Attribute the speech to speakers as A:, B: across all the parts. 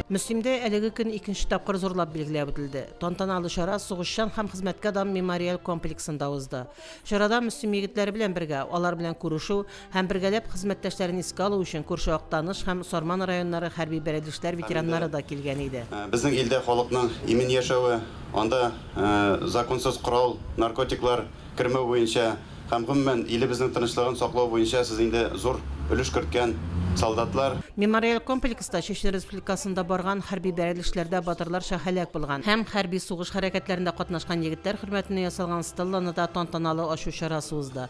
A: Мөслимдә әлеге көн икенче тапкыр зурлап билгеләп үтелде. Тантаналы чара сугышчан һәм хезмәткә дан мемориаль комплексында узды. Чарада Мөслим егетләре белән бергә, алар белән күрешү һәм бергәләп хезмәттәшләрен искә алу өчен күрше Актаныш һәм Сарман районнары хәрби бәрелешләр ветераннары да килгән иде. Безнең илдә
B: халыкның имин яшәве, анда законсыз корал, наркотиклар, кермәү буенча һәм, гомумән, илебезнең тынычлыгын саклау буенча сез инде зур өлеш керткән солдатлар. Мемориаль
A: комплекста Чечня Республикасында барган хәрби бәрелешләрдә батырларча һәлак булган һәм хәрби сугыш хәрәкәтләрендә катнашкан егетләр хөрмәтенә ясалган стелланы да тантаналы ачу чарасы узды.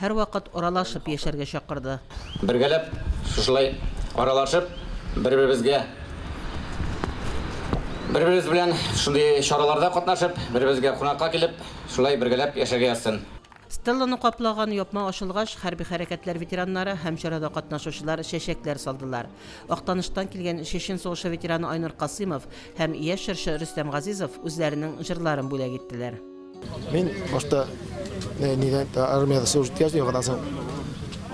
A: Һәрвакыт аралашып яшәргә чакырды. Бергәләп
C: шушылай аралашып, бер-беребезгә, бер-беребез белән шундый чараларда катнашып, бер-беребезгә кунакка килеп, шулай бергәләп яшәргә язсын. Стелланы
A: каплаган япма ачылгач, хәрби хәрәкәтләр ветераннары һәм чарада катнашучылар чәчәкләр салдылар. Актаныштан килгән Чечен сугышы ветераны Айнур Касыймов һәм яшь җырчы Рөстәм Газизов үзләренең җырларын бүләк иттеләр. Мин
D: башта нидә армияда служить иткәч, яңадан соң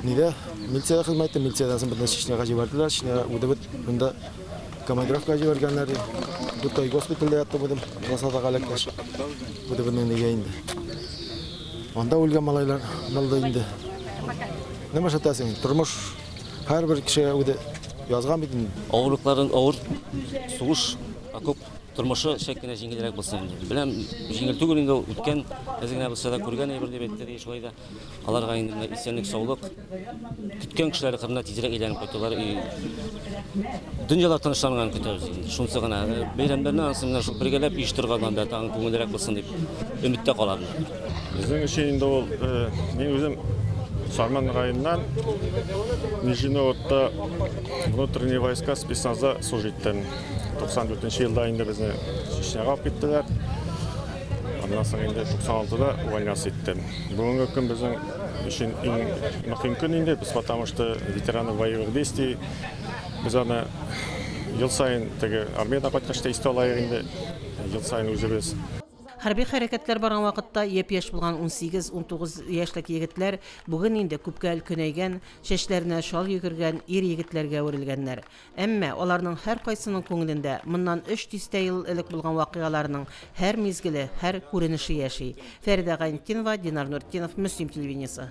D: нидә милициядә хезмәт иттем, милициядән соң бөтен Чечняга җибәрделәр, Чечняга үдебез монда командировка җибәргәннәр. Бу той госпитальдә яттым үзем, Расадага эләккәч. Үдебезне нигә инде. Анда үлгән малайлар булды инде. Нема шатасың? Тормыш һәрбер кешегә үзе язган бит инде. Авырлыкларын авыр
E: сугыш окоп Тормышы чәк кенә җиңелрәк булсын инде. Беләм, җиңел түгел инде ул үткән, әз генә булса да күргән әйбер дип әйтте ди. Шулай да аларга инде менә исәнлек, саулык. Көткән кешеләре кырына тизрәк әйләнеп кайтулары и дөньялар тынычланганын көтәбез инде. Шунысы гына. Э, бәйрәмнәрне ансын менә шул бергәләп еш торганнан да тагын күңеллерәк булсын дип өметтә калабыз. Безнең өчен
F: инде ул э, мин үзем Сарман районыннан Нижиневодта внутренние войска спецназа служиттен. 94 нче елда инде безне Чечняга алып киттеләр. Аннан соң инде 96-да увольняться иттем. Бүгенге көн безнең өчен иң мөһим көн инде, без потому что ветераны боевых действий. Без аны ел сайын теге армиядән кайткач та истә алайык инде. Ел сайын үзебез Хәрби
A: хәрәкәтләр барган вакытта япь-яшь булган 18-19 яшьлек егетләр бүген инде күпкә өлкәнәйгән, чәчләренә шал йөгергән ир-егетләргә әверелгәннәр. Әмма аларның һәркайсының күңелендә моннан өч дистә ел элек булган вакыйгаларның һәр мизгеле, һәр күренеше яши. Фәридә Гайнтдинова, Динар Нуртдинов, Мөслим телевидениесе.